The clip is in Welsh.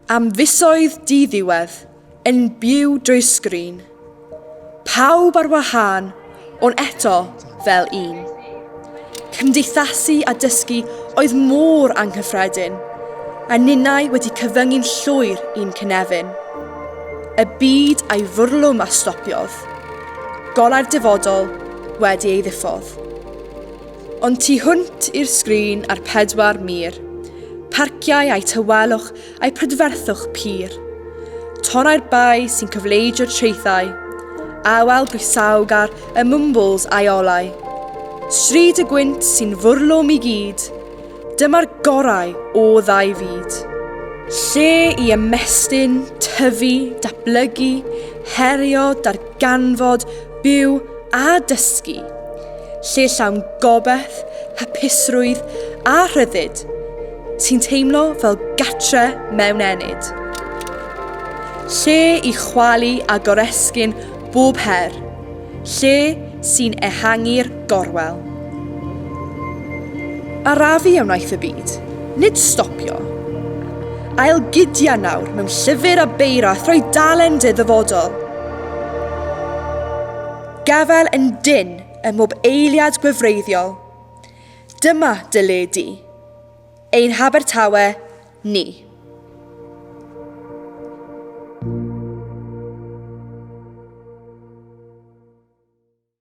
Am fisoedd di-ddiwedd, yn byw drwy sgrin. Pawb ar wahân, ond eto fel un. Cymdeithasu a dysgu oedd mor anghyffredin, a ninnau wedi cyfyngu'n llwyr i'n cynefin. Y byd a'i fwrlwm a stopiodd, golau'r dyfodol wedi ei ddiffodd. Ond tu hwnt i'r sgrin ar pedwar mir, parciau a'i tawelwch a'i prydferthwch pur. Torrai'r bai sy'n cyfleidio traethau, awel brisawgar y mwmbwls a'i olau. Stryd y gwynt sy'n fwrlwm i gyd, dyma'r gorau o ddau fyd. Lle i ymestyn, tyfu, datblygu, herio, darganfod, ganfod, byw a dysgu, lle llawn gobeith, hapusrwydd a rhyddid, ti'n teimlo fel gatre mewn enid. Lle i chwalu a goresgyn bob her, lle sy'n ehangu'r Gorwel. Arafu a wnaeth y byd, nid stopio. Ail gydia nawr mewn llyfr a beir a throi dalen dy ddyfodol. Gafael yn dyn ym mhob eiliad gwefreiddiol. Dyma dy le di. Ein Habertawe ni.